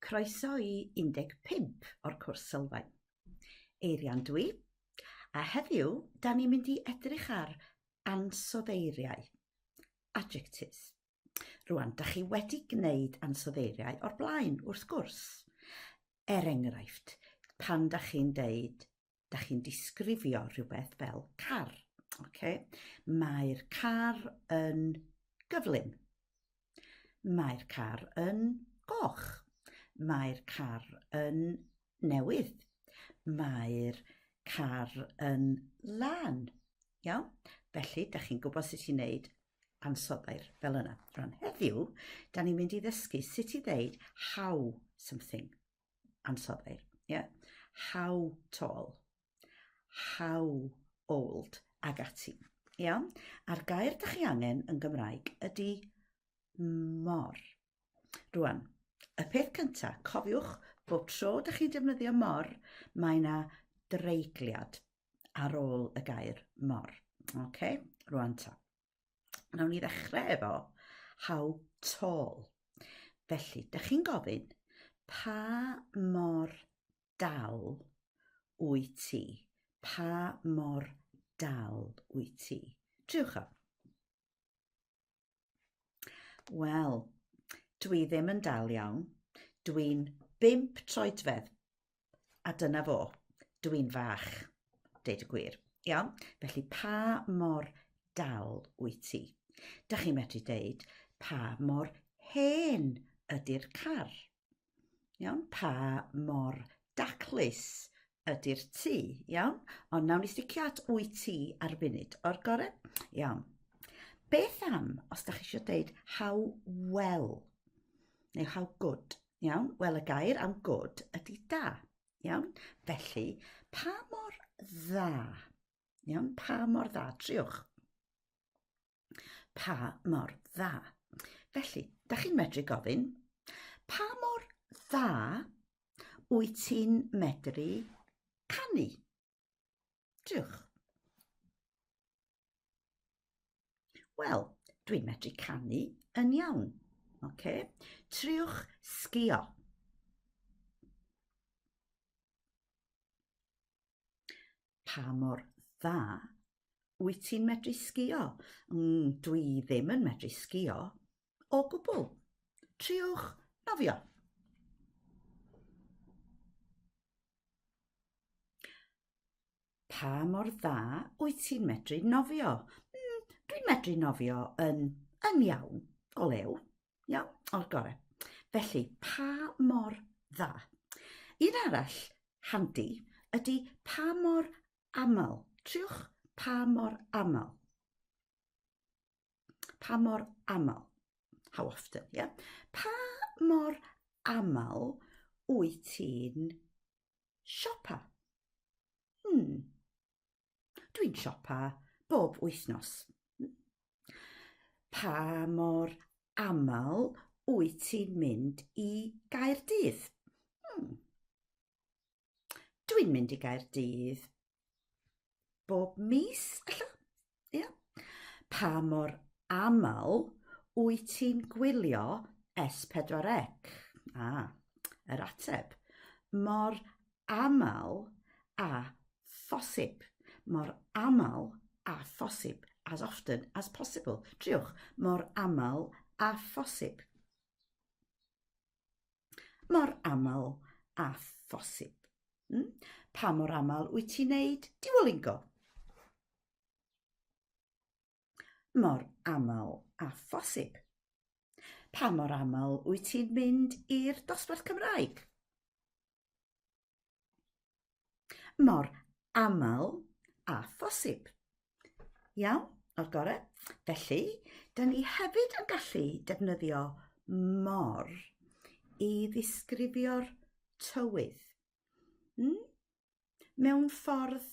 Croeso i 15 o'r cwrs sylfaen. Eirian dwi, a heddiw da ni'n mynd i edrych ar ansoddeiriau, adjectives. Rwan, da chi wedi gwneud ansoddeiriau o'r blaen, wrth gwrs. Er enghraifft, pan da chi'n deud da chi'n disgrifio rhywbeth fel car. Okay? Mae'r car yn gyflym. Mae'r car yn goch. Mae'r car yn newydd. Mae'r car yn lan. Iawn? Felly, da chi'n gwybod sut i wneud ansoddair fel yna. Rhan heddiw, da ni'n mynd i ddysgu sut i ddeud how something. ansoddeir. Yeah. How tall. How old. Ag ati. Iawn? A'r gair da chi angen yn Gymraeg ydy mor. Rwan, y peth cyntaf, cofiwch bob tro da chi'n defnyddio mor, mae yna dreigliad ar ôl y gair mor. Okay? Rwan ta. Nawn ni ddechrau efo how tall. Felly, da chi'n gofyn pa mor dal wyt ti? Pa mor dal wyt ti? Triwch o. Wel, dwi ddim yn dal iawn. Dwi'n bimp troedfedd. A dyna fo. Dw i'n fach, deud y gwir. Iawn? Felly pa mor dal wyt ti? Da chi'n medru deud pa mor hen ydy'r car. Iawn? Pa mor daclus ydy'r tu. Iawn? Ond nawn ni sticio at wyt ti ar y funud. O'r gore? Iawn. Beth am, os da chi eisiau deud how well, neu how good, Iawn, wel y gair am good ydy da. Iawn, felly pa mor dda? Iawn, pa mor dda? Triwch. Pa mor dda? Felly, da chi'n medru gofyn, pa mor dda wyt ti'n medru canu? Diolch. Wel, dwi'n medru canu yn iawn. Okay. Triwch sgio. Pa mor dda wyt ti'n medru sgio? Mm, dwi ddim yn medru sgio. o gwbl. Triwch nofio. Pa mor dda wyt ti'n medru nofio? Mm, dwi'n medru nofio yn, yn iawn, o lew, iawn, o'r gorau. Felly, pa mor dda? Un arall handi ydy pa mor aml. Triwch pa mor aml. Pa mor aml? How often, ie? Yeah? Pa mor aml wyt ti'n siopa? Hmm. Dwi'n siopa bob wythnos. Pa mor aml wyt ti'n mynd i Gaerdydd? Hmm. Dwi'n mynd i Gaerdydd bob mis, ella? Ia. Yeah. Pa mor aml wyt ti'n gwylio S4C? Ah, yr ateb. Mor aml a phosib. Mor aml a phosib. As often as possible. Triwch, mor aml a phosib. mor aml a phosib. Hmm? Pa mor aml wyt ti'n neud diwolingo? Mor aml a phosib. Pa mor aml wyt ti'n mynd i'r dosbarth Cymraeg? mor aml a phosib. Iawn, o'r gorau. Felly, dyn ni hefyd yn gallu defnyddio mor i ddisgrifio'r tywydd. Mm? Mewn ffordd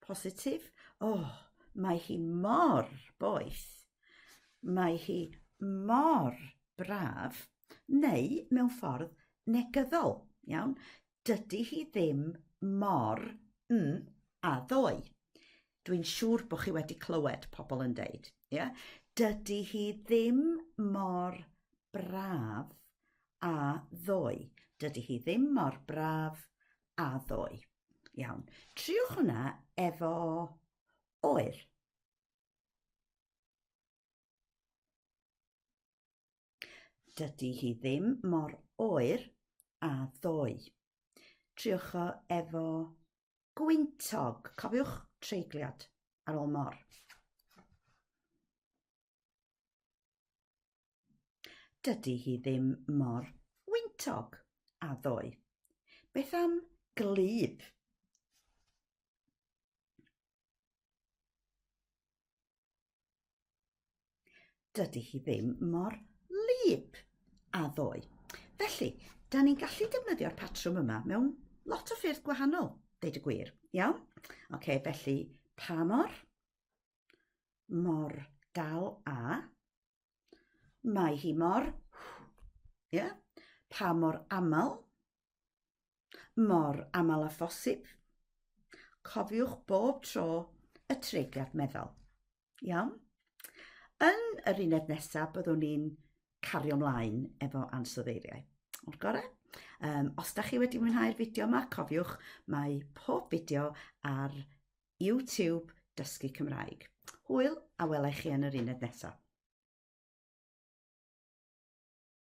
positif. O, oh, mae hi mor boeth. Mae hi mor braf. Neu, mewn ffordd, negyddol. Iawn? Dydy hi ddim mor mm a ddoe. Dwi'n siŵr bod chi wedi clywed pobl yn deud. Yeah? Dydy hi ddim mor braf a ddoe. Dydy hi ddim mor braf a ddoe. Iawn. Triwch hwnna efo oer. Dydy hi ddim mor oer a ddoe. Triwch o efo gwyntog. Cofiwch treigliad ar ôl mor. Dydy hi ddim mor wyntog a ddoe. Beth am glib? Dydy hi ddim mor lib a ddoe. Felly, da ni'n gallu defnyddio'r patrwm yma mewn lot o ffyrdd gwahanol, deud y gwir. Iawn? Oce, okay, felly pa mor? mor dal a mae hi mor ie yeah, pa mor aml mor aml a phosib. Cofiwch bob tro y treigliad meddwl. Iawn? Yn yr uned nesaf byddwn ni'n cario mlaen efo ansoddeiriau. O'r gorau? Um, os da chi wedi mwynhau'r fideo yma, cofiwch, mae pob fideo ar YouTube Dysgu Cymraeg. Hwyl a wela i chi yn yr uned nesaf.